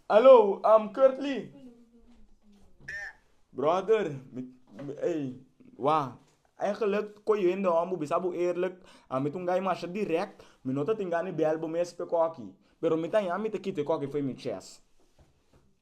Aló, am Kurtley? Bròder, mi, mi, ey, wà, eigenlijk koyendo wan bo bisa bo eerlijk, a mi ta un guy masha dirèkt, mi no ta tin gana di bèl bo mes pe kòki, pero mi ta yama mi ta kita e kòki fo'i mi chèst.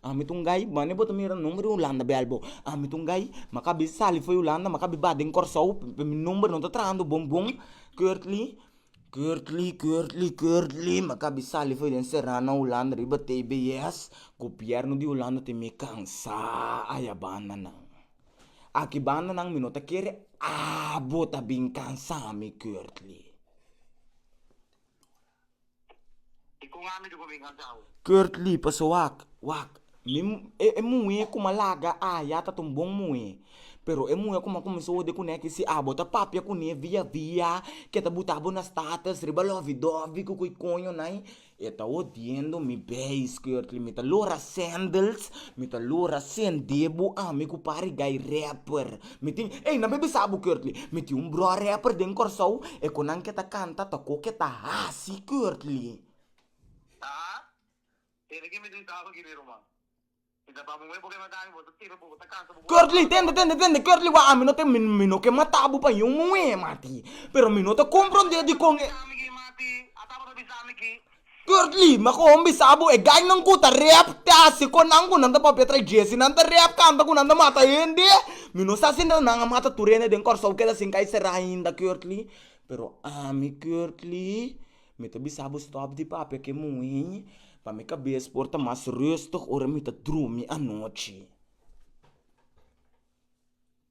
Ami ta un gai, bani bo ta mira nomber di Hulanda bel bo, ami ta un gai maka a bisa sali fo'i Hulanda maka a bisa ba den Kòrsou pe mi nomber no ta trahando bon bon, Kurtli, Kurtli, Kurtli, Kurtli, maka a bisa sali fo'i den Serrano Hulanda riba tbs, gobièrnu di Hulanda tin mi kansá aya banda nan, aki banda nan mi no ta kere abo ta bin kansami Kurtli. I kon ami di ku bin kansa awe? Kurt Lee pasa wak, wak. Mi, e muhe ku m'a laga aya ta ta un bon muhe. Pero e muhe ku m'a kuminsá ode kuné ki si abo ta papia kuné via via ke ta buta bo na States riba lòvi dòvi ku ko'i koño nai, e ta hodiendo mi beis, Kurt Lee. Mi ta lora sandals, mi ta lora sendebo ami ku pari guy rapper. Mi tin, ey nan baby sa Albuquerque. Mi tin un broa rapper den Corsou, e cu nan ke ta canta ta cu ke ta haci Curtly. Haa, kende ki mi tin sa Albuquerque ruman? Mi ta bam'un e bo ke mata mi, bo ta tira, bo ta cansa, bo bo ta Curtly, tende, tende, tende, Curtly wak ami no te, mi, mi no ke mata bo pa yiun muhé, mati, pero mi no ta comprende dikon e. Ataba ta bisa mi ki, ataba ta bisa mi ki. Kurt Lee, M'a koho bisa bo e gainan ku ta rap tasi kon nan ku nan ta papia tra Jesse. Nan ta rap kanta ku nan ta mata hende. Mi no sa si nan a mata tur hende den Kòrsou keda sin kai será ainda, Kurt Lee. Pero ami, Kurt Lee, mi ta bisa bo stòp di papia ku e muhé, pa mi kabes por ta mas rùstig ora mi ta drumi anochi.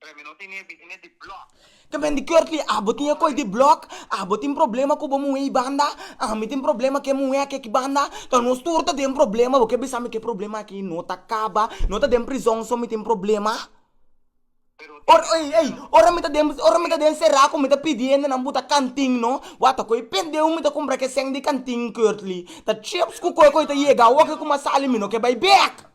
Premi no tin e bini di block. Tamen di Curtly, abo tin e kos di block, abo tin problema ku bo muhé i banda, ami tin problema ku e muhé aki eki banda, ta nos tur ta den problema, bo ke bisa mi ku e problema aki no ta kaba, no ta den prizon so mi tin problema, ora ei ei ora mi ta den ora mi ta den será ku mi ta pidi hende nan buta kantin no, wata ku e pendeu mi ta kumpra ke sèn di kantin Curtly, ta chips ku koe ku i ta yega awoke kuma sali mi no ke bai bek.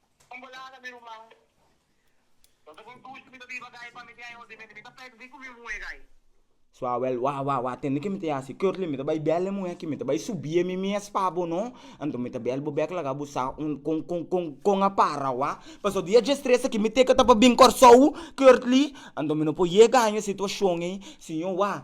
Bon bolada mi ruman. Lo ta bon dushi mi ta biba gai pa mi tin aña otimente mi ta pèkdi ku mi muhé gai. Suawèl, Wah wah wah tende ke mi ta yasi. Curly, Mi ta bai bèl e muhé aki, mi ta bai subié mi mes pa bo no. Anto mi ta bèl bo bèk laga bo sa un kon kon kon kon a para wah. Paso dia dje stres aki mi teke ta pa bin Kòrsou, Curly. Anto mi no por yega aña e situashon ei, siño wah.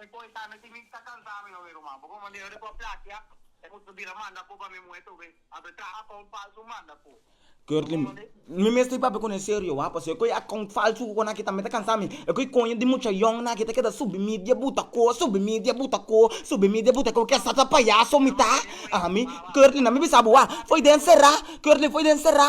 Te koe ta, mi tin mi ta kansa mi no mi ruman, bo por manda e ora ku a plakia, e must por bira manda ku pa mi muhe tu be, a be traha akount falsu manda ku. Curtly, mi mester papia ku nan serio wak, pasobra e koe akount falsu ku konaki ta mi ta kansa mi, e koe koño di mucha yòn aki ta keda subi media buta ko, subi media buta ko, subi media buta ko, ke sa ta payaso mi ta, a mi, curtly na mi bisa bo wak, foi den será, curtly foi den será.